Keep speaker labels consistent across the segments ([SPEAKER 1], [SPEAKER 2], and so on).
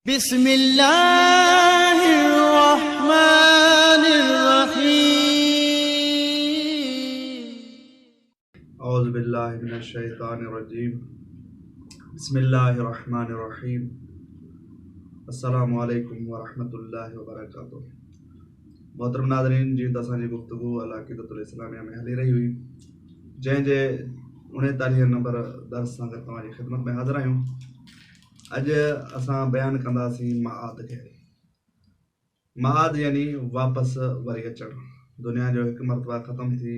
[SPEAKER 1] بسم الله الرحمن الرحيم. اعوذ بالله من الشيطان الرجيم بسم الله الرحمن الرحيم السلام عليكم ورحمة الله وبرڪاته محترم ناظرين جي ته اسان جي گفتگو العقيدة الاسلاميه ۾ هلي رهي هئي جنهن جي اڻيتاليهين نمبر درس سان گڏ توهان جي خدمت ۾ حاضر آهيون اڄ اسان بيان ڪنداسين معاد کي. معاد يعني واپس وري اچڻ. دنيا جو هڪ مرتبه ختم ٿي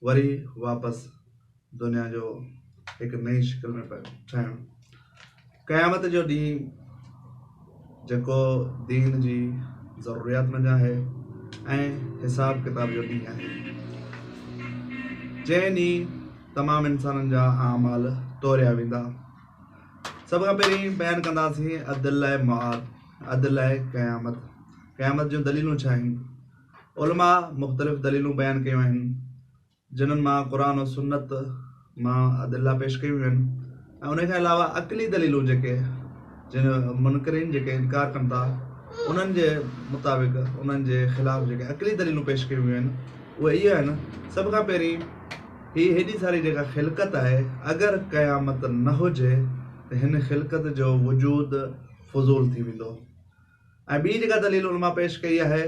[SPEAKER 1] وري واپس دنيا جو هڪ نئين شڪل ۾ ٺهڻ. قيامت جو ڏينهن جيڪو دين جي ضروريات منجهان آهي ۽ حساب ڪتاب جو ڏينهن آهي. جنهن ڏينهن تمام انسانن جا اعمال توريا ويندا. سڀ کان پهرين بيان ڪنداسين عدل لاء معاد، عدل لاء قيامت، قيامت جون دليلون ڇا آهن؟ علماء مختلف دليلون بيان ڪيون آهن، جنھن مان قرآن و سنت مان ادله پيش ڪيون ويون آهن ۽ انھي کان علاوه عقلي دليلون جيڪي جن منڪرين جيڪي انڪار ڪن ٿا انھن جي مطابق انھن جي خلاف جيڪي عقلي دليلون پيش ڪيون ويون آهن اهي اهي آهن سڀ کان پهرين هي هيڏي ساري جيڪا خلقت آهي، اگر قيامت نه هجي ته هن خلقت جو وجود فضول ٿي ويندو. ۽ ٻي جيڪا دليل علماء پيش ڪئي آهي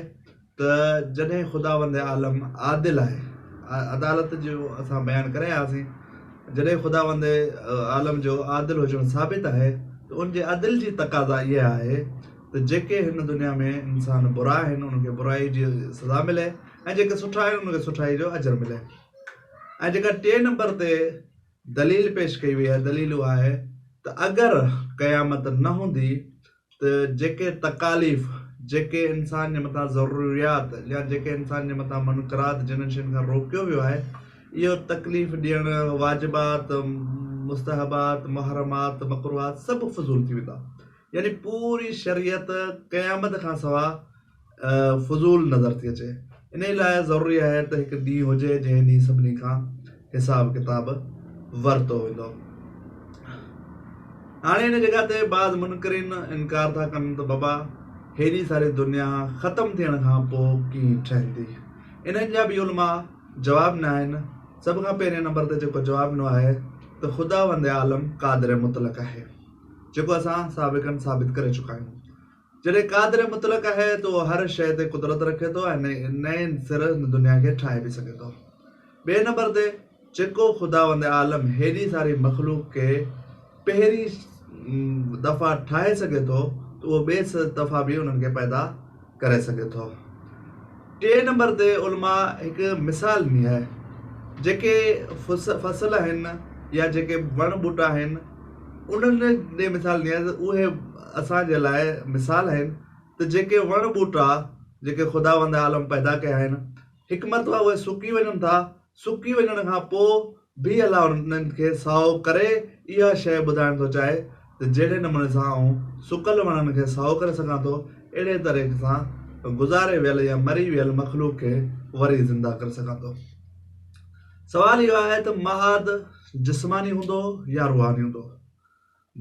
[SPEAKER 1] ته جڏهن خداوند عالم عادل آهي، عدالت جو اسان بيان ڪري آياسين، جڏهن خداوند عالم جو عادل هجڻ ثابت آهي ته ان جي عدل جي تقاضا اها آهي ته جيڪي هن دنيا ۾ انسان برا آهن ان کي برائي جي سزا ملي، ۽ جيڪي سٺا آهن انهن کي سٺائي جو اجر ملي ۽ جيڪا ٽئين نمبر تي دليل پيش ڪئي وئي آهي دليل اها آهي ته اگر قيامت نه هوندي ته جيڪي تڪاليف جيڪي انسان جي مٿان ضروريات يا جيڪي انسان جي مٿان منقرات جنهن شين کان روڪيو ويو آهي اهو تڪليف ڏيڻ واجبات مستحبات محرمات مڪروهات سڀ فضول ٿي ويندا يعني پوري شريعت قيامت کان سوا فضول نظر ٿي اچي انهي لاء ضروري آهي ته هڪ ڏينهن هجي جنهن ڏينهن سڀني کان حساب ڪتاب ورتو ويندو هاڻي ان جڳهه تي بعض منڪرين انڪار ٿا ڪن ته بابا هيڏي ساري دنيا ختم ٿيڻ کان پوء ڪيئن ٺهندي انهن جا به علماء جواب نه آهن سڀ کان پهرين نمبر تي جيڪو جواب ڏنو آهي ته خداوند عالم قادر مطلق آهي جيڪو اسان سابقن ثابت ڪري چڪا آهيون جڏهن قادر مطلق آهي ته اهو هر شيء تي قدرت رکي ٿو ۽ نئين سر هن دنيا کي ٺاهي به سگهي ٿو. ٻئي نمبر تي جيڪو خداوند عالم هيڏي ساري مخلوق کي پهرين دفعا ٺاهي سگهي ٿو ته اهو ٻئي دفعا به انهن کي پيدا ڪري سگهي ٿو. ٽئين نمبر تي علماء هڪ مثال ڏني آهي جيڪي فصل آهن يا جيڪي وڻ ٻوٽا آهن انهن ڏي مثال ڏني آهي ته اهي اسان جي لاء مثال آهن ته جيڪي وڻ ٻوٽا جيڪي خداوند عالم پيدا ڪيا آهن هڪ مرتبه اهي سڪي وڃن ٿا سڪي وڃڻ کان پوء به الله انهن کي سائو ڪري اها شيء ٻڌائڻ ٿو چاهي ته جهڙي نموني سان آئون سڪل وڻن کي سائو ڪري سگهان ٿو، اهڙي طريقي سان گذاري ويل يا مري ويل مخلوق کي وري زنده ڪري سگهان ٿو. سوال اهو آهي ته معاد جسماني هوندو يا روحاني هوندو؟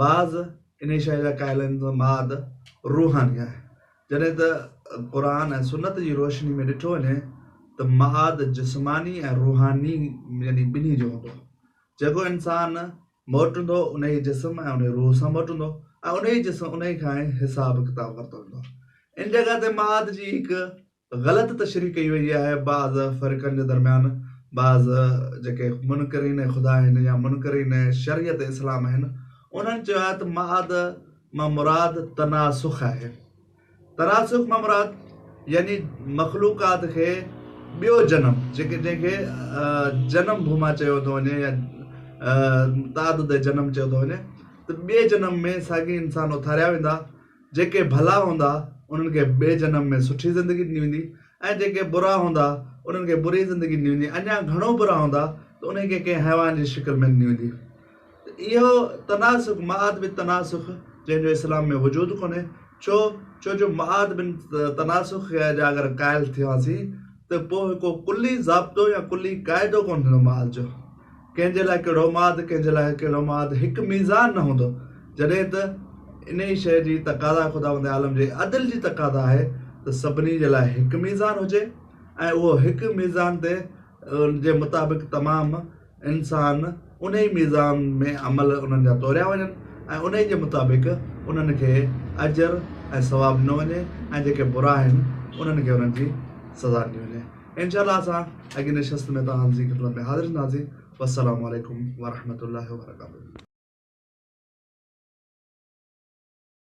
[SPEAKER 1] بعض انهيء شيء جا قائل آهن ته ماد روحاني آهي، جڏهن ته قرآن ۽ سنت جي روشني ۾ ڏٺو وڃي ته ماد جسماني ۽ روحاني يعني ٻنهي جو هوندو. جيڪو انسان موٽندو انهيء جسم ۽ انهيء روح سان موٽندو ۽ انهيء جسم انهيء کان ئي حساب ڪتاب ورتو ويندو. ان جڳهه تي ماد جي هڪ غلط تشريح ڪئي وئي آهي بعض فرقن جي درميان بعض جيڪي منڪرين خدا آهن يا منڪرين شريعت اسلام آهن انهن چيو آهي ته معاد مان مراد تناسخ آهي تناسخ مان مراد يعني مخلوقات کي ٻيو جنم جيڪي جنهن کي جنم ڀوما چيو ٿو وڃي يا تعدد جنم چيو ٿو وڃي ته ٻئي جنم ۾ ساڳي انسان اٿاريا ويندا جيڪي ڀلا هوندا انهن کي ٻئي جنم ۾ سٺي زندگي ڏني ويندي ۽ جيڪي برا هوندا انهن کي بري زندگي ڏني ويندي اڃا گهڻو برا هوندا ته انهي کي ڪنهن حيوان جي شڪل ۾ ڏني ويندي ته اهو تناسخ معاد بن تناسخ جنهن جو اسلام ۾ وجود ڪونهي ڇو ڇو جو معاد بن تناسخ جا اگر قائل ٿيواسين ته پوء ڪو ڪلي ضابطو يا ڪلي قاعدو ڪونه ٿيندو معاد جو ڪنهن جي لاء ڪهڙو ماد، ڪنهن جي لاء ڪهڙو ماد، هڪ ميزان نه هوندو، جڏهن ته انهيء شيء جي تقاضا خداوند عالم جي عدل جي تقاضا آهي ته سڀني جي لاء هڪ ميزان هجي ۽ اهو هڪ ميزان تي جي مطابق تمام انسان انهيء ميزان ۾ عمل انهن جا توريا وڃن ۽ انهيء جي مطابق انهن کي اجر ۽ ثواب ڏنو وڃي ۽ جيڪي برا آهن انهن کي انهن جي سزا ڏني وڃي. انشاء الله اسان اڳين نشست ۾ توهان جي خدمت ۾ حاضر ٿينداسين والسلام عليڪم ورحمة الله وبرڪاته.